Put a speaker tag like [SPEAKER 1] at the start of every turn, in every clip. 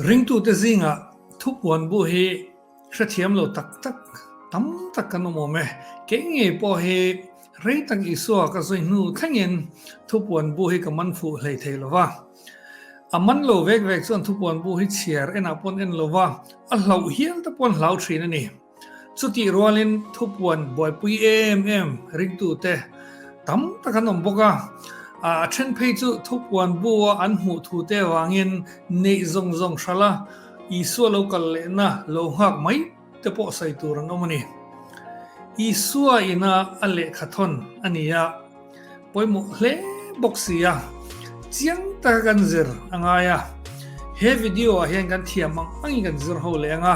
[SPEAKER 1] Ringtute zingah thupuan bu hi hrethiam lo tak tak tam tak kan awm awm e. Kei ngei pawh hi rei tak Isua ka zawi hnu thlengin thupuan bu hi ka man fuh hlei thei lo va. A man lo vek vek chuan thupuan bu hi chhiar enah pawn en lo va, a hlauh hial te paw'n hlau thin a ni. Chutih rualin thupuan buaipui em em ringtute tam tak an awm bawk a. A then phei chu thupuan bu a an hmuh thute avangin neih zawng zawng hrala Isua lo kal lehna lo nghak mai te pawh sawi tur an awm a ni. Isua ina a lehkhathawn a ni a. Pawimawh hle bawk si a, chiang taka kan zir a ngai a, he video ah hian kan thiam hmang hmangin kan zir ho leh ang a,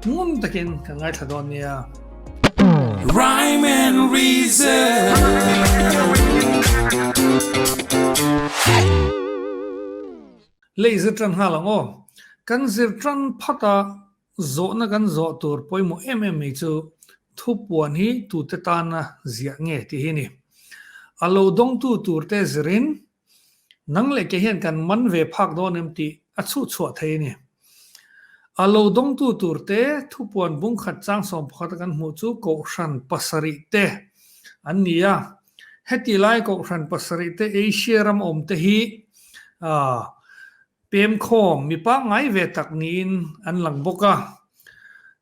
[SPEAKER 1] ngun takin ka ngaithla dawn nia.
[SPEAKER 2] Rhyme and reason.
[SPEAKER 1] Lei zir tan nghal ang aw, kan zir tan phat a. Zawhna kan zawh tur pawimawh em em mai chu thupuan hi tute tana ziah nge tih hi a ni. A lo dawngtu turte zirin, Nang leh kei hian kan man ve phak dawn em tih a chhuhchhuah thei a ni. A lo dawngtu turte thupuan bungkhat changsawm pakhata kan hmuh chu Kohhran pasarih te an ni a. Heti lai Kohhran pasarih te Asia ram awmte hi Pemkhawm mipa ngai ve tak niin an lang bawk a,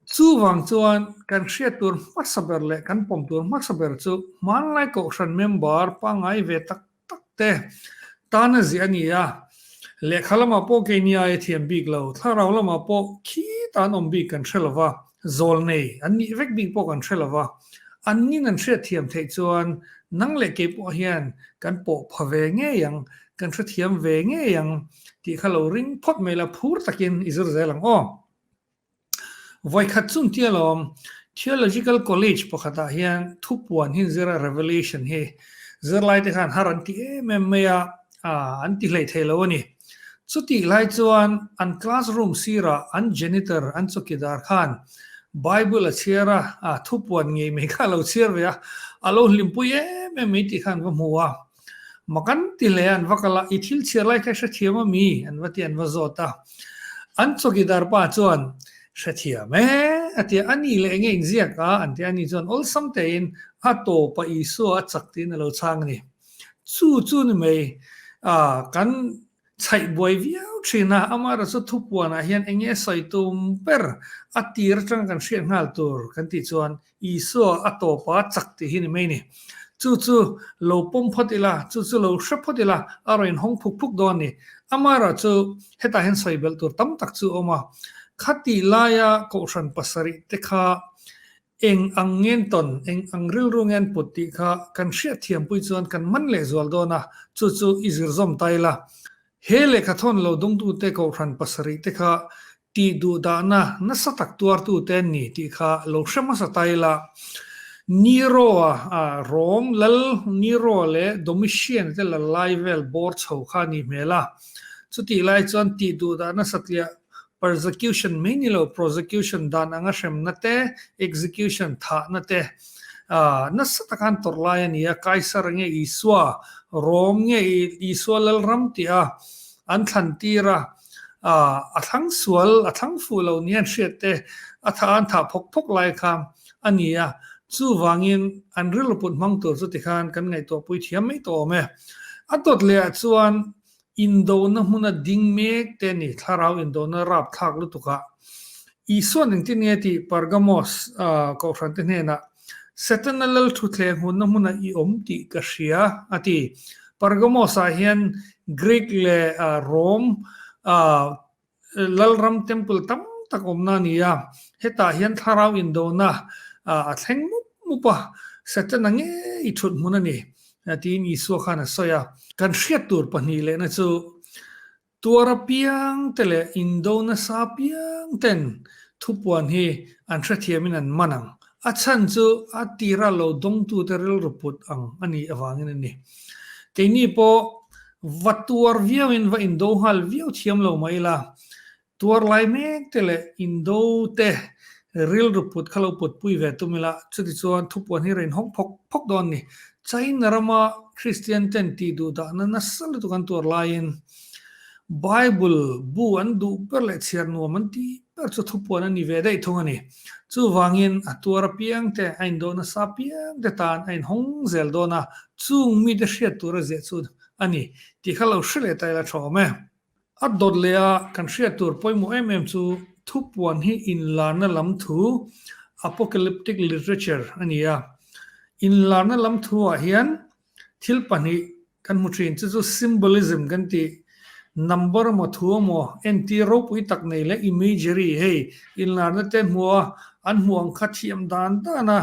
[SPEAKER 1] chuvang chuan kan hriat tur hmasa ber leh kan pawm tur hmasa ber chu hmanlai Kohhran member pangngai ve tak tak te tan a zia ni a, lehkha lamah pawh keinia e thiam bik lo, thlarau lamah pawh khi tan awm bik kan hre lo va. Zawl nei an nih vek bik pawh kan hre lo va, annin an hriatthiam theih chuan nang leh kei pawh hian kan pawh pha ve ngei ang, kan hrethiam ve ngei ang tih kha lo ring phawt mai la, phur takin i zir zel ang aw. Vawikhat chu ntia lawm, Theological College pakhatah hian thupuan hi zira Revelation hi zirlaite khan har an ti em em mai a, a an ti hleithei lo a ni. Chutih lai chuan an classroom sirah an janitor an chawkidar khan Bible a chhiar a, a thu puan ngei mai kha a lo chhiar ve a, a lo hlimpui em em mai tih khan va hmu a. Ma kan ti hle a an va kal a, i thil chhiar lai kha i hrethiam a mi? an va ti a, an va zawt a. An chawkidar pa chuan, Hrethiam e a ti a, a ni leh enge engziak a? an ti a, ani chuan awlsam teh in, A tawpa Isua a chak tiin a lo chhang a ni. Chu chu ni mai. Aah, kan chhaih buai viau thin a, Amara chu thupuanah hian eng nge sawi tum ber a tir atang kan hriat nghal tur kan tih chuan Isua a tawp a chak tih hi ni mai ni. Chu chu lo pawm phawt ila, chu chu lo hre phawt ila a rawn inhawng phuk phuk dawn ni. Amara chu hetah hian sawi belh tur tam tak chu a awm a, khati laia kohhran pasarih te kha Eng ang nge an tawn, eng ang rilru nge an put tih kha kan hriatthiampui chuan kan man leh zual dawn a, chu chu i zirzawm ta ila. He lehkha thawn lo dungtute kohhran pasarih te kha tih duh dahna nasa tak tuartute an ni tih kha lo hre hmasa ta ila. Niroa a rawng lal, Niroa leh Domitian te lal lai vel bawr chho kha a nih hmel a, chutih lai chuan tih duh dahna satliah Persecution mai ni lo prosecution dan anga hremna te, execution thahna te. Aah nasa taka an tawrh lai a nia, Kaisar nge Isua, Rome nge Isua Lalram tih a an thlan tir a, aah a thlang sual a thlang fuh lo nia an hriat te, a tha an thah phawk phawk lai kha a nia. Chuvangin an rilru put hmang tur chu tikhan kan ngaihtuahpui thiam mai tawh awm e. A dawt leh ah chuan Indona hmun a ding mek te ni, thlarau indona rap thlak lutuk a. Isua ning tin nge tih Pergamos kohhran te hnenah, Satan a lal thu thleng hunna hmunah i awm tih ka hria a ti. Pergamos ah hian Greek leh Rome Lalram temple tam tak awmna a ni a, hetah hian thlarau indona a thleng mup mup a, Satana ngei thut hmun a ni, tiin Isua khan a sawi a. Kan hriat tur pahnih lehna chu tuar apiang te leh indo nasa apiang ten thupuan hi an hrethiamin an man ang, a chhan chu a tirah lo dawngtute rilru put ang a nih avangin a ni. Keini pawh Va tuar viauin va indo nghal viau thiam lo mai ila, tuar lai mek te leh indo te rilru put kha lo pawtpui ve tum ila, chuti chuan thupuan hi rain hawng phawk phawk dawn ni. China rama Kristian ten tih duh dahna nasa lutuk an tuar laiin, Bible bu an duh ber leh chhiar nuam an tih ber chu thupuan a ni ve daih thung a ni. Chuvangin a tuar apiang te, a indaw nasa apiang te tan a inhawng zel dawn a, chung mite hriat tura ziah chu a ni tih kha lo hre leh ta ila tha awm e. A dawt leh a kan hriat tur pawimawh em em chu thupuan hi inlarna lam thu, apocalyptic literature, a ni a. Inlarna lam thu ah hian Thil pahnih kan hmu thin chu chu symbolism kan ti. Number emaw thu emaw entir ropui tak nei leh imagery hei inlarna te hmua an hmu ang kha thiam dan dana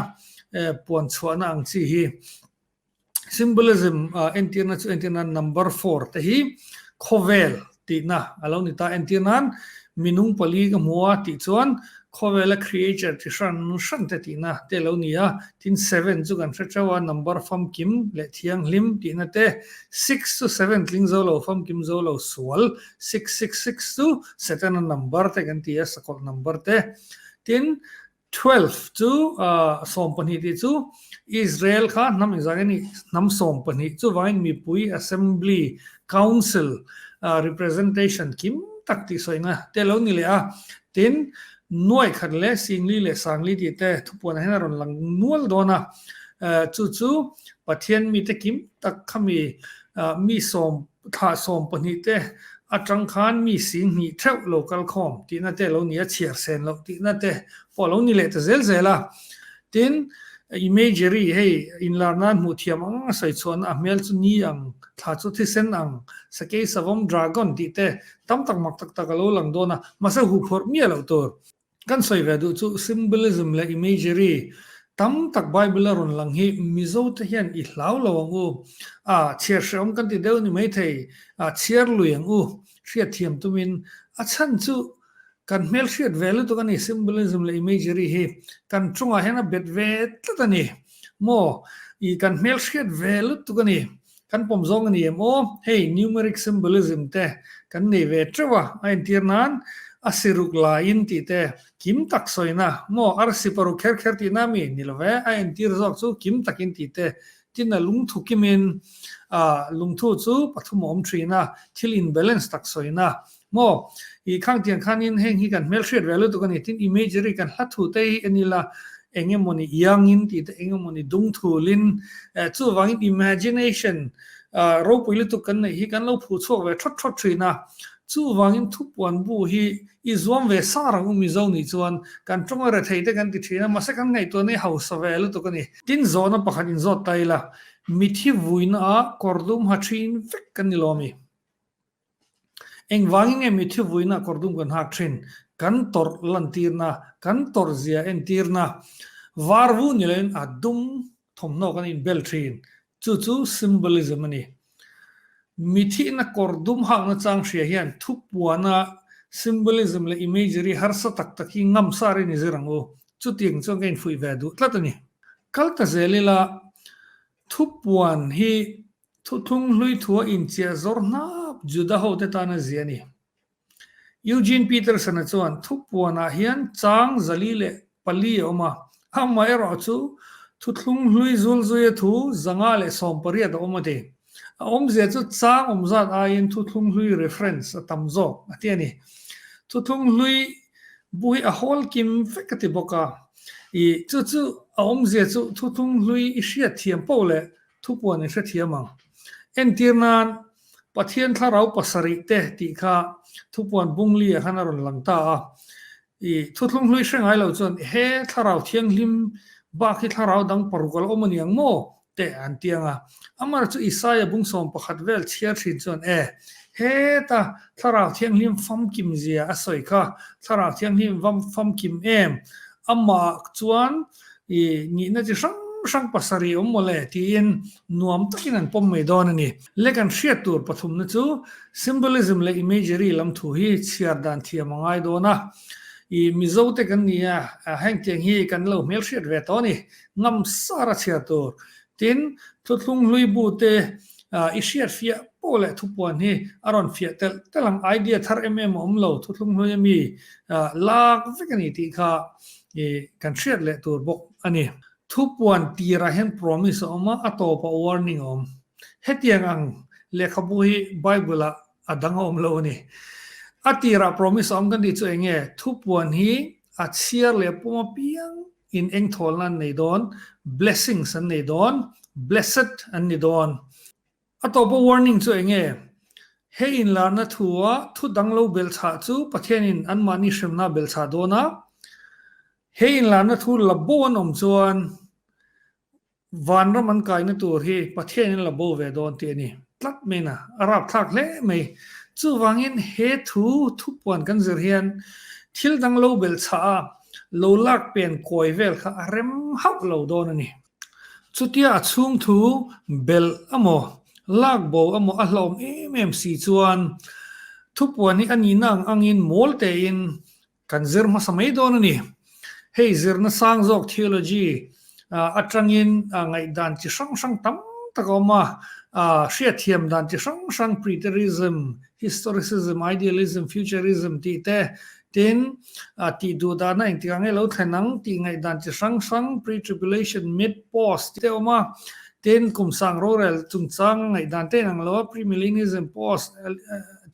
[SPEAKER 1] puan chhuahna ang chi hi. Symbolism a entirna chu entirna number four te hi khawvel Tihna a lo ni ta. Entir nan minung pali ka hmu a tih chuan khawvela creature chi hran hran te tihna te lo ni a. Tin seven chu kan hre teuh a, number famkim leh thianghlim tihna te. Six chu seven tling zo lo, famkim zo lo sual. Six six six chu Satan-a number te kan ti a, sakawlh number te. Tin Twelve chu sawm pahnih tih chu Israel kha hnam engzah nge nih hnam sawm pahnih chuvangin mipui assembly, council, representation kim tak tih sawi nga te lo ni leh a, tin nuaih khat leh singli leh sangli tih te thupuan ah hian a rawn lang nual dawn a, chu chu Pathian mite kim tak khami mi sawm Thlah sawm pahnih te atang khan mi sin hnih theuh lo kal khawm tihna te lo ni a, chhiar sen loh tihna te pawh lo ni leh ta zel zel a. Tin, imagery hei inlar nan hmuh thiam ang anga sawichhuahna a hmel chu ni ang, thla chu thisen ang, sakei savom, dragon, tih te tam tak mak tak tak a lo lang dawn a, mahse huphawrh miah loh tur Kan sawi ve duh chu symbolism leh imagery tam tak Bible a rawn lang hi Mizo te hian i hlau lo ang u, a chhiar hrehawm kan ti deuh ni mai thei, a chhiar lui ang u, hriat thiam tumin a chhan chu kan hmel hriat ve lutuk a ni symbolism leh imagery hi kan chungah hian a bet ve tlat a ni maw i kan hmel hriat ve lutuk a ni Kan pawm zawng a ni em aw? Hei numeric symbolism te kan nei ve teuh a, a entir nan a si ruk la in tih te kim tak sawina, maw arsi paruk kher kher tih na mi? Ni lo ve, a entir zawk chu kim takin tih te tina lungthu kimin, ah lungthu chu pathum a awm thin a, thil in balance tak sawina, Maw? I khangtiang khanin heng hi kan hmel hriat ve lutuk a ni. Tin, imagery kan hla thu te hi eni la, eng emaw ni iangin tih te, eng emaw ni dungthulin, eh, chuvangin imagination, ah, ropui lutuk kan neih hi kan lo phu chhuak ve thawt thawt thin a. Chuvangin thupuan bu hi i zuam ve sang rang u Mizo nih chuan kan tawnga rethei te kan ti thin a, mahse kan ngaihtuah nei hausa ve lutuk a ni. Tin, zawhna pakhat in zawt ta ila, mit hi vuina ah kawr dum ha thin vek kan ni lomi. Engvangin nge mitthi vuina kawr dum kan hak thin? Kan tawrh lantirna, kan tawrhzia entirna varvu ni loin a dum thawmhnaw kan inbel thin. Chu chu symbolism a ni. Mithihna kawr dum hakna chang hria hian thupuana symbolism leh imagery harsa tak tak hi ngam sa rin i zir ang u. Chuti ang chuan ka infuih ve duh tlat a ni. Kal ta zel ila, thupuan hi Thuthlung hluithua inchiah zawr hnap Juda hote tan a zia a ni. Eugene Peterson-a chuan thupuanah hian chang zali leh pali a awm a, amaherawh chu thuthlung hlui zulzuia thu zanga leh sawmpariat a awm a ti. A awmzia chu chang awm zat aiin thuthlung hlui reference a tam zawk a ti a ni. Thuthlung hlui bu hi a hawl kim vek a ti bawk a, ih chu chu a awmzia chu thuthlung hlui i hriatthiam poh leh Thupuan in hrethiam ang. Entir nan Pathian thlarau pasarih te tih kha Thupuan Bungli-a khan a rawn lang ta a. I Thuthlung hlui hre ngai lo chuan he thlarau thianghlim bak hi thlarau dang paruk a la awm a niang maw? teh an tiang a. Amar chu Isaiah bung sawm pakhat vel chhiar thin chuan e, heta thlarau thianghlim famkim zia a sawi kha thlarau thianghlim famkim em? Amah chuan I nihna chi hrang hrang pasarih awm maw le? tiin nuam takin an pawm mai dawn a ni. Le kan hriat tur pathumna chu symbolism leh imagery lam thu hi chhiar dan thiam a ngai dawn a. I Mizo te kan nia, heng tiang hi kan lo hmel hriat ve tawh a ni, ngam sar a chhiar tur. Tin, Thuthlung hluibu te i hriat fiah pawh leh thupuan hi a rawn fiah telh telh ang, idea thar em em a awm lo, thuthlung hlui ami lak vek a ni tih kha I kan hriat leh tur bawk a ni. Thupuan tirah hian promise a awm a, a tawpah warning a awm. Hetiang ang lehkhabu hi Bible-ah a dang a awm lo a ni. A tirah promise a awm kan tih chu eng nge? Thupuan hi a chhiar leh pawm apiang in eng thawlna an nei dawn? Blessings an nei dawn, blessed an ni dawn. A tawpa warning chu eng nge? He inlarna thua thu dang lo belh chhah chu Pathianin anmahni hremna belh chhah dawn a. He inlarna thu la bo an awm chuan van ram an kaina tur hi Pathianin la bo ve dawn tih a ni. Tlat mena a rapthlak hle mai. Chuvangin he thu thupuan kan zir hian thil dang lo belh chhah a lo lak pen kawi vel kha a rem hauh lo dawn a ni. Chutia a chhungthu belh a maw, lak bo a maw a hlawm em em si chuan thupuan hi a nihna ang angin mawl tein kan zir hmasa mai dawn a ni. Hei zirna sang zawk theology atangin ngaihdan chi hrang hrang tam tak a awm a, hriatthiam dan chi hrang hrang preterism, historicism, idealism, futurism tih te Tin, a tih duh dahna engtik ang e lo thlen ang tih ngaihdan chi hrang hrang, pre-tribulation, mid-pause, tih te a awm a. Tin, kum sang rorel chungchanga ngaihdan te in ang lo a, pre-millennialism, pause,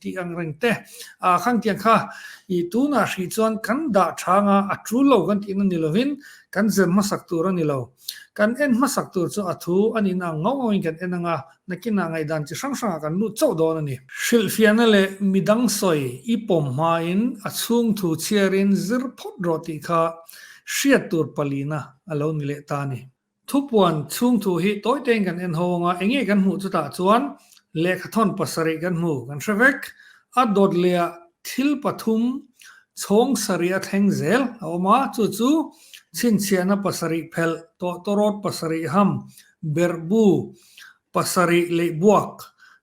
[SPEAKER 1] tih ang reng te a khang tih ang kha. I tunah hrih chuan kan dah chhanga a tul lo kan tihna ni lovin kan zem hmasak tur a ni lo. Kan en hmasak tur chu a thu a nihna ang ngauh ngauhin kan en ang a, nakinah ngaihdan chi hrang hrangah kan lut chauh dawn a ni. Hrilhfiahna leh midang sawi i pawm hmain a chhungthu chhiarin zir phawt rawh tih kha hriat tur palina a lo ni leh ta a ni. Thupuan chhungthu hi tawi tein kan en ho ang a, enge kan hmuh chutah chuan lehkhathawn pasarih kan hmu kan hre vek, a dawt leh ah Thil pathum chhawng sarih a thleng zel a awm a, chu chu, chhinchhiahna pasarih phelh, tawhtawrawt pasarih ham, berhbu, pasarih leih buak,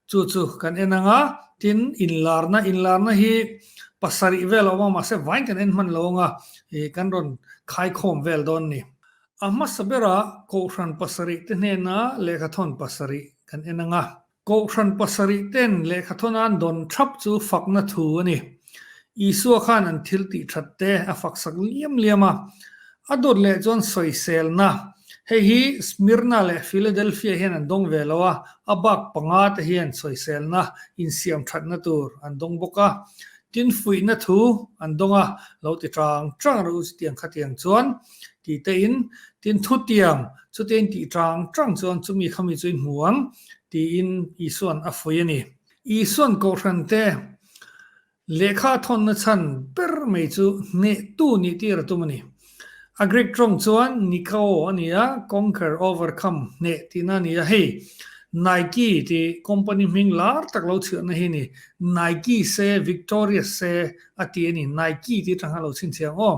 [SPEAKER 1] chu chu kan en ang a, tin, inlarna, inlarna hi pasarih vel a awm a, mahse vain kan en hman lo ang a, ih, kan rawn khaikhawm vel dawn ni. A hmasa berah, Kohhran pasarih te hnena lehkhathawn pasarih kan en ang a. Kohhran pasarih ten lehkha thaw nan dawn thap chu fakna thu a ni. Isua khan an thil tih that te a faksak liam liam a. A dawt leh chuan sawiselna. Hei hi Smirna leh Philadelphia hian an dawng ve lo a, a bak panga te hian sawiselna insiam thatna tur an dawng bawk a. Tin fuihna thu an dawng a, lo ti chang chang reuh chutiang khatiang chuan titein tin thutiang chute in tih chang chang chuan chumi kha mi chu in hmu ang. tiin Isua'n a fuih a ni. Isua'n kohhrante lehkha a thawnna chhan ber mai chu hnehtu nih tir a tum a ni. A Greek tawng chuan nikao a ni a, conquer, overcome, hneh tihna a ni a. Hei Nike tih company hming lar tak lo chhiahna hi a ni. Nike se, victorious se a tih a ni. Nike tih atanga lo chhinchhiah ang aw.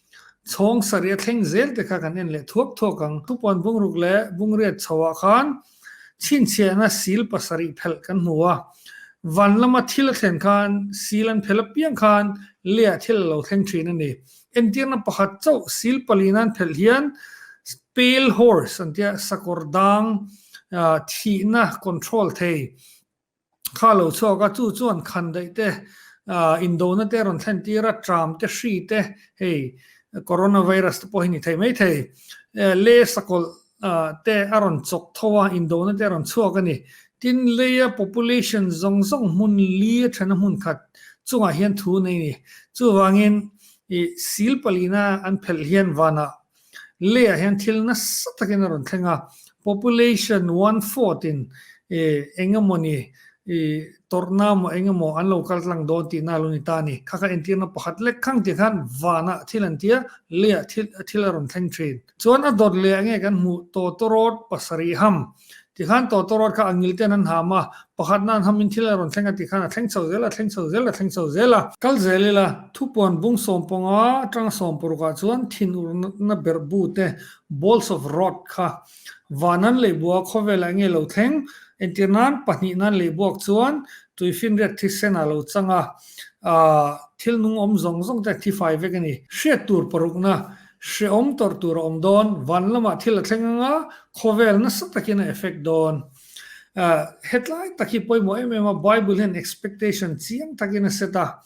[SPEAKER 1] Chhawng sarih a thleng zel te kha kan en leh thuak thuak ang. Thupuan bungruk leh bungriat chho ah khan chhinchhiahna sil pasarih phelh kan hmu a. Van lama thil a thlen khan sil an phelh apiang khan leiah thil a lo thleng thin a ni. Entirna pakhat chauh sil pali nan phelh hian pale horse an tia sakawr dang thihna control thei Kha lo chhuak a, chu chuan khan daih te, indona te rawn thlen tir a, tram te hri te hei Corona virus te pawh hi ni thei mai thei. Lei sakawlh te a rawn chawk tho a, indona te a rawn chhuak a ni. Tin, leia population zawng zawng hmun li a then a hmun khat chungah hian thu nei a ni. Chuvangin, sil palina an phelh hian vanah Leah hian thil nasa takin a rawn thleng a, population one fourth in eng emaw ni tawrhna maw eng emaw an lo kal tlang dawn tihna a lo ni ta a ni. Kha kha entirna pakhat lek khang ti khan vana thil an ti a, Leah thil a rawn thleng thin. Chuan a dawt leh a nge kan hmuh, Tawtawrawt pasarih ham. Tikhan Tawtawrawt kha a ngil ten an ham a, pakhat nan ham in thil a rawn thleng a tih khan a thleng chho zel, a thleng chho zel, a thleng chho zel a. Kal zel ila, thupuan bung sawm pawnga atanga sawm paruk ah chuan thin urna berh bu te, balls of rot, kha van an lei bua khawvel ah nge lo thleng, entir nan pahnih nan lei buak chuan tui finriat thi sen ah lo chang a, ahh, thil nung awm zawng zawng te thi fai vek a ni. Hriat tur parukna, Hreawm tawrh tur a awm dawn, van lamah thil a thleng anga khawvel nasa takin a effect dawn. Hetlai tak hi pawimawh em em a, Bible hian expectation chiang takin a set a.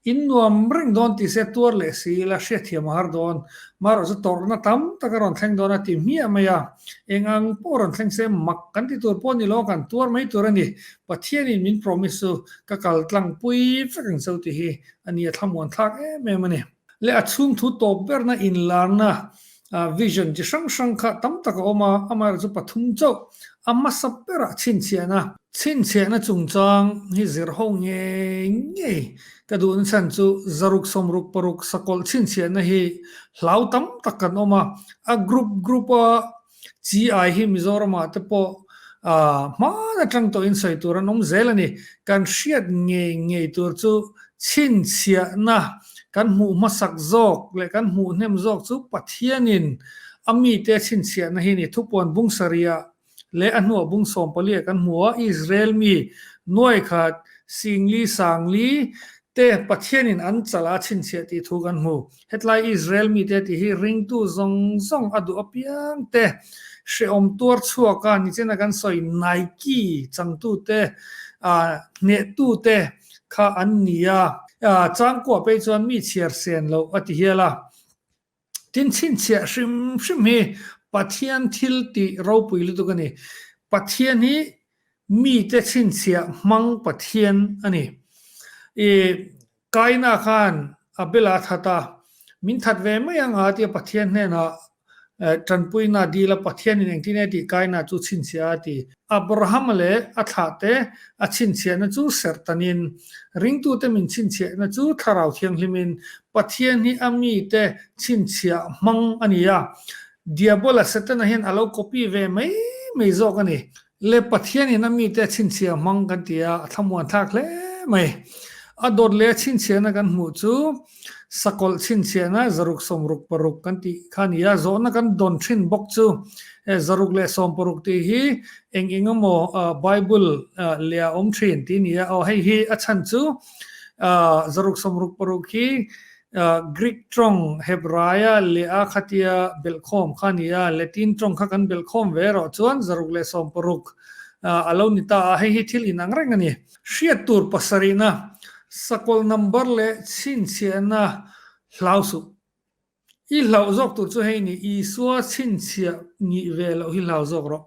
[SPEAKER 1] In nuam reng dawn tih se tuar leh si ila hriatthiam a har dawn. Marawhchu tawrhna tam tak a rawn thleng dawn a ti hmiah mai a. Eng ang pawh rawn thleng se mak kan ti tur pawh ni lo, kan tuar mai tur a ni. Pathianin min promise chu ka kaltlang pui vek ang cho tih hi a ni a thlamuan thlak em em a ni. leh a chhungthu tawp berna inlarna vision chi hrang hrang kha tam tak a awm a, amaherawhchu chu pathum chauh a hmasa berah chhinchhiahna a ni. Chhinchhiahna chungchang hi zir ho ngei ngei ka duh na chhan chu zaruk sawmruk paruk sakawlh chhinchhiahna hi hlau tam tak kan awm a, a group group a Chi ai hi Mizoramah te pawh hman atang tawhin sawi tur an awm zel a ni. Kan hriat ngei ngei tur chu chhinchhiahna, kan hmuh hmasak zawk leh kan hmuh hnem zawk chu Pathianin a mite a chhinchhiahna hi a ni. Thupuan Bungsaria leh a hnuah Bung Sawmpalia kan hmu a, Israel mi nuaikhat Singli, Sangli, te Pathianin an chal a chhinchhiah tih thu kan hmu. Hetlai Israel mite tih hi ringtu zawng zawng a duh apiang te, hrehawm tuar chhuak a nichina kan sawi Nike changtu te, hnehtu te kha an ni a. Changkuah pei chuan mi chhiar sen lo a ti hial a. Tin, chhinchhiah hrim hrim hi Pathian thil tih ropui lutuk a ni. Pathian hi mite chhinchhiah hmang Pathian a ni. I Kaina khan Abela a that a, Min that ve mai ang a ti a, Pathian hnenah tanpuina dil a, Pathianin engtin e tih Kaina chu chhinchhiah a ti. Abrahama leh a thlahte a chhinchhiahna chu serhtanin, Ringtute min chhinchhiahna chu Thlarau Thianghlimin Pathian hi a mite chhinchhiah hmang a ni a. Diabola, Setana, hian a lo copy ve mai mai zawk a ni. Le Pathianin a mite a chhinchhiah hmang kan ti a, a thlamuanthlak hle mai. A dawt leh a chhinchhiahna kan hmuh chu sakawlh chhinchhiahna zaruk sawmruk paruk kan tih kha a ni a, zawhna kan dawn thin bawk chu he zaruk leh sawm paruk tih hi eng eng emaw Bible leh a awm thin tih a ni a. Aw hei hi a chhan chu zaruk sawmruk paruk hi Greek tawng, Hebraia leh a khatia belhkhawm kha ni a, Latin tawng kha kan belhkhawm ve erawh chuan zaruk leh sawm paruk a lo ni ta a, hei hi thil inang reng a ni. Hriat tur pasarihna, sakawlh number leh chhinchhiahna hlau suh. I hlauh zawk tur chu hei a ni, Isua chhinchhiah nih ve loh hi hlauh zawk rawh.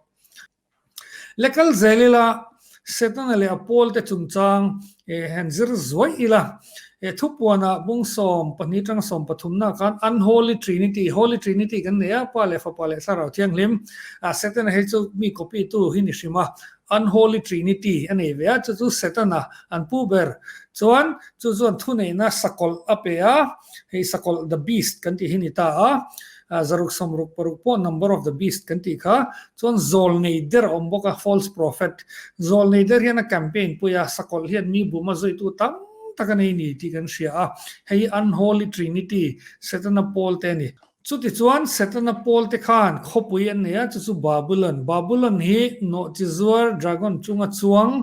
[SPEAKER 1] Lekal zel ila, Setana leh a pawlte chungchang han zir zuai ila, thupuana Bungsawm pahnih tang sawm pathumna khan Unholy Trinity, Holy Trinity kan nei a, Pa leh Fapa leh Thlarau Thianghlim. Setana hi chu mi copy tu hin i hrim a, Unholy Trinity a nei ve a, chu chu Setana an pu ber. Chuan chu chuan thuneihna sakawlh a pe a, hei sakawlh the beast kan tih hi a ni ta a. a zaruk sawm ruk paruk pawh number of the beast kan tih kha chuan zawl nei der a awm bawk a false prophet zawl nei der hian a campaign pui a sakawlh hian mi buma zawitu tam tak a nei ni tih kan hria a hei hi unholy trinity setana pawl te a ni chuti chuan setana pawl te khan khawpui an nei a chu chu babylon babylon hi nawhchi zuar dragon chunga chuang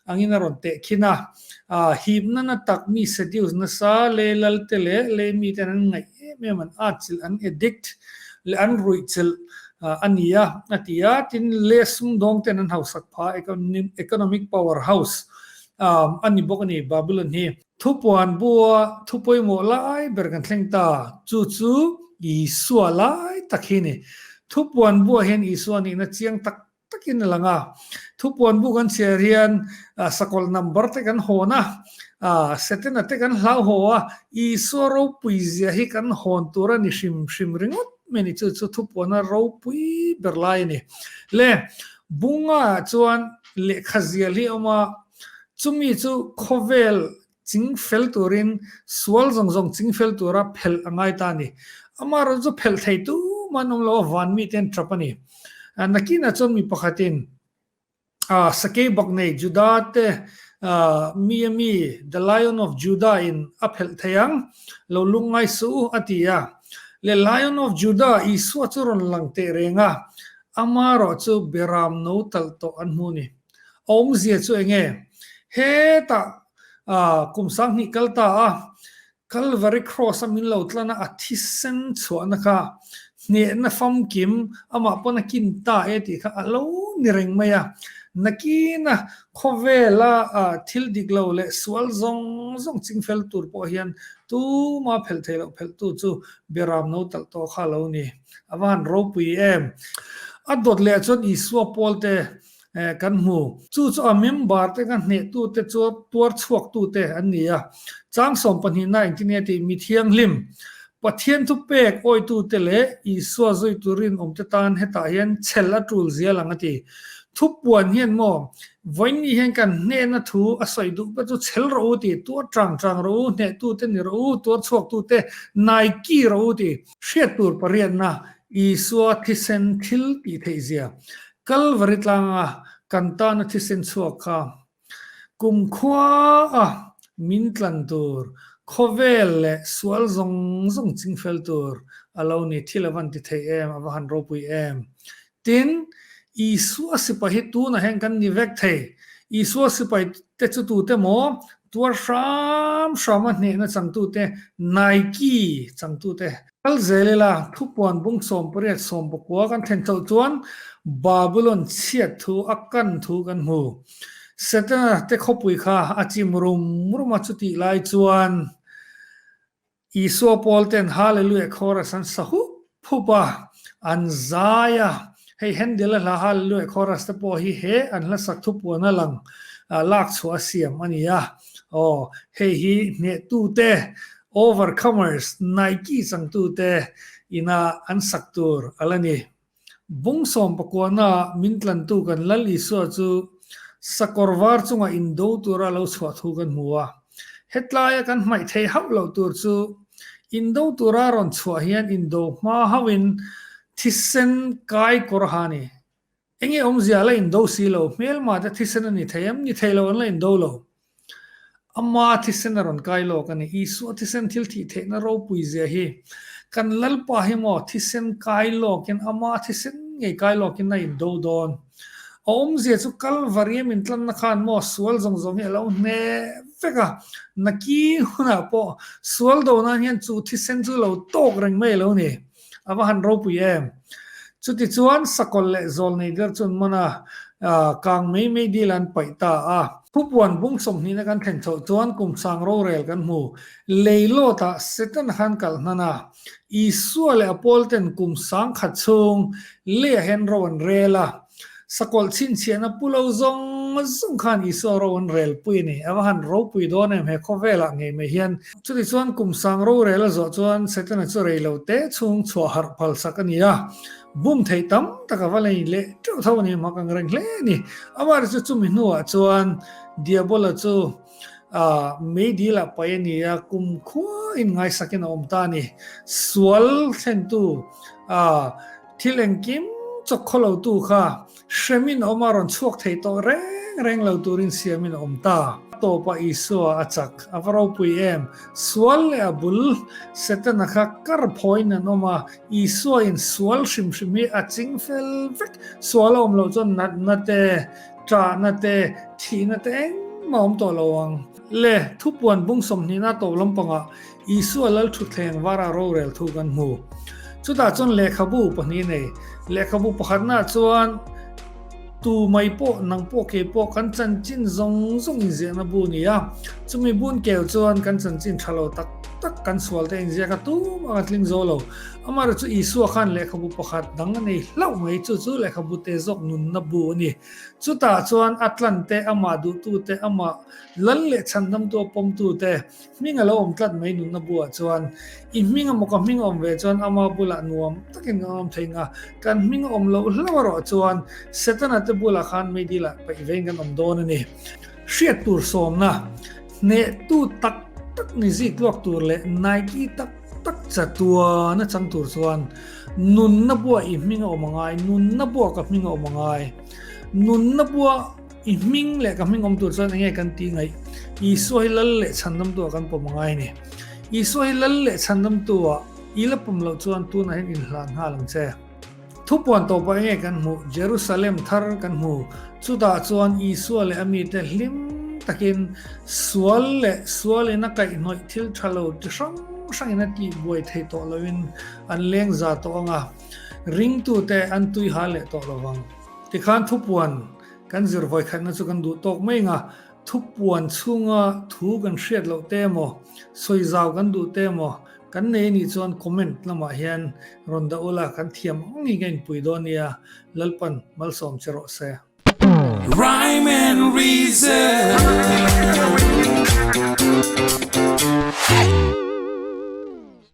[SPEAKER 1] angin a rawn teh khin a. A himna na tak mi seduce nasa lei lal te leh lei mi ten an ngaih em em an atchilh an addict leh an ruihchilh a ni a a ti a tin lei sumdawng ten an hausak pha economic power house a ni bawk a ni babylon hi. Thupuan bua thu pawimawh lai ber kan thleng ta chu chu isua lai tak hi a ni thupuan bua hian isua nihna chiang tak takin a lang a, thupuan bu kan chhiah rian sakawlh number te kan hawn a, setena te kan hlau haw a, Isua ropui zia hi kan hawn tur a ni hrim hrim ringawt mai ni chu chu thupuana ropui ber lai a ni. Le bunga chuan lehkha zial hi a awm a, chumi chu khawvel Ching fel turin sual zawng zawng ching fel tura phelh a ngai ta a ni. Amah rawn chu phelh thei tum an awm lo a, van mite an ṭap a ni. Nakinah chuan mi pakhatin sakei bak nei Judah te mia mi The Lion of Judah in a phelh thei ang, lo lung ngai suh u a ti a. Le Lion of Judah Isua chu rawn lang tehreng a, amah erawh chu ber ram no talh tawh an hmu a ni. A awmzia chu eng nge? Hetah kum sanghnih kal ta a Calvary Cross a min lo tlan a, a thisen chhuahna kha hnehna famkim amah pawn a kin ta e tih kha a lo ni reng mai a. Nakina khawvela thil dik lo leh sual zawng zawng ching fel tur pawh hian tuma phelh thei loh phelh tu chu Biaram no talh tawh kha a lo ni. A van ropui em? A dawt leh chuan Isua pawl te kan hmu. Chu chu a member te ka hneh tu te chu tuar chhuak tu te an ni a. Chang Sawmpahnihna engtin nge tih mi thianghlim, Pathian thu pek awi tu te leh Isua zui tur rinawm te tan hetah hian chhel a tul zia lang a ti. Thu puan hian maw, Vawiinni hian kan hneh na thu a sawi duh ka chu chhel rawh u ti, tuar chang chang rawh u, hneh tu te ni rawh u, tuar chhuak tu te nai ki rawh u ti. Hriat tur pariatna, Isua thisen thil tih theih zia, Calvary tlanga kan tana thisen chhuak kha kumkhuaa min tlan tur, khawvel leh sual zawng zawng ching fel tur a lo ni. Thil a va nti thei em, a va han ropui em? Tin, Isua sipai hi tunah hian kan ni vek thei. Isua sipai te chu tute maw, tuar hram hrama hnehna changtute, naiki changtute Kal zel ila, thupuan bung sawm pariat sawm pakua kan thlen chauh chuan Babylon chhiat thu a kan thu kan hmu. Setana te khawpui kha a chim rum rum a, chutih lai chuan Isua pawl ten Hallelujah chorus an sa hup hup a, an zai a. Hei Handel a hla Hallelujah chorus te pawh hi he an hlasak thupuan a lang lak chhuah a siam a nia. Aw, hei hi hnehtute Overcomers Nike changtute ina an sak tur a la ni. Bawngsawm pakuana min tlantu kan Lal Isua chu sakawr var chunga in do tura a lo chhuah thu kan hmu a. Hetlaia kan hmaih thei hauh loh tur chu in do tura rawn chhuah hian in do hma hauhin thisen kai kawr a ha a ni. Eng nge awmzia a la indo si lo, hmel mahte thisen a ni thei em? Ni thei lo, an la indo lo. Ama thisen a rawn kai lawk a ni. Isua thisen thil thih theihna ropui zia hi kan Lalpa hi maw thisen kai lawkin Ama thisen ngei kai lawkin a indo dawn? A awmzia chu Kalvari a min tlanna khan maw sual zawng zawng hi a lo hne vek a, na ki hunah pawh sual do nan hian chu thisen chu lo tawk reng mai lo ni. A va han ropui em? Chutichuan Sakawlh leh Zawlnei ber chu an man a, kang mei mei dil an paih ta a. Khupuan bung sawmhnihna kan thlen chhoh chuan kum sang rorel kan hmu. Lei lawtah Setana khan kal hnan a. Isua leh a pawlten kum sang khat chhung leiah hian ro an rel a. Sakawlh chhinchhiahna pu lo zawng zawng khan Isua ro an rel pui a ni. A va han ropui dawn em he khawvelah ngei mai hian. Chutichuan kum sang rorel a zawh chuan Setana chu rei lo te chhung chhuah harh phalsak a ni a. Bum theih tam tak a va la in leh teuh tho a ni, mak ang reng hle a ni. Amari chu chumi hnuah chuan Diabola chu meidilah pai a ni a, kum khuain ngaisakin a awm ta a ni. Sual thlentu Thil engkim chawk khaw lo tu kha hremin awm a rawn chhuak thei tawh reng reng lo turin siamin a awm ta. A tawpah Isua a chak a va ropui em? Sual leh a bul Setana kha kar phawin an awm a, Isuain sual hrim hrim hi a ching fel vek. Sual a awm loh chuan natna te, ṭahna te, thihna te engmah awm tawh lo ang. Le, thupuan bung sawmhnihnaa to lampangah Isua lal thutthleng vara rorel thu kan hmu. Chutah chuan lehkhabu pahnih nei. Lehkhabu pakhatnah chuan, Tu mai pawh, nang pawh, kei pawh kan chanchin zawng zawng inziahna bu ni a. Chumi bun kel chuan kan chanchin tha lo tak tak, kan sual te inziak a tum a kan tling zo lo. Amaherawhchu Isua khan lehkhabu pakhat dang a nei hlauh mai, chu chu lehkhabute zawk nunna bu a ni. Chutah chuan a tlante, amah duhtute, amah lal leh chhandamtu a pawmtute, Hming a lo awm tlat mai nunna bulah chuan i hming emaw ka hming a awm ve chuan ama bulah nuam takin kan awm thei nga, kan hming a awm loh hlauh erawh chuan Setana te bulah khan meidila paih vein kan awm dawn a ni. Hriat tur sawmna, hnehtu tak tak ni zik luak tur leh naiki tak tak chatuan a chang tur chuan nunna buah i hming a awm a ngai, nunna buah ka hming a awm a ngai, nunna buah. I hming leh ka hming awm tur chuan enge kan ti ngaih? Isua hi lal leh chhandamtu a kan pawm a ngai ni. Isua hi lal leh chhandamtu a i la pawm loh chuan tunah hian in hlan nghal ang che. Thu puan tawp ah enge kan hmuh? Jerusalem thar kan hmu. Chutah chuan Isua leh a mite hlim takin sual leh sual in a kaihhnawih thil tha lo chi hrang hrang in a tih buai theih tawh lo in an leng za tawh ang a, ringtute an tuiha leh tawh lo vang. Tikhan thu puan Kan zir vawikhatna chu kan duh tawk mai anga, thupuan chhunga thu kan hriat loh te emaw, sawi zau kan duh te emaw, kan nei anih chuan comment lamah hian rawn dah ula, kan thiam ang angin ka inpui dawn nia, Lalpan malsawm che
[SPEAKER 2] rawh se. Rhyme
[SPEAKER 1] and reason.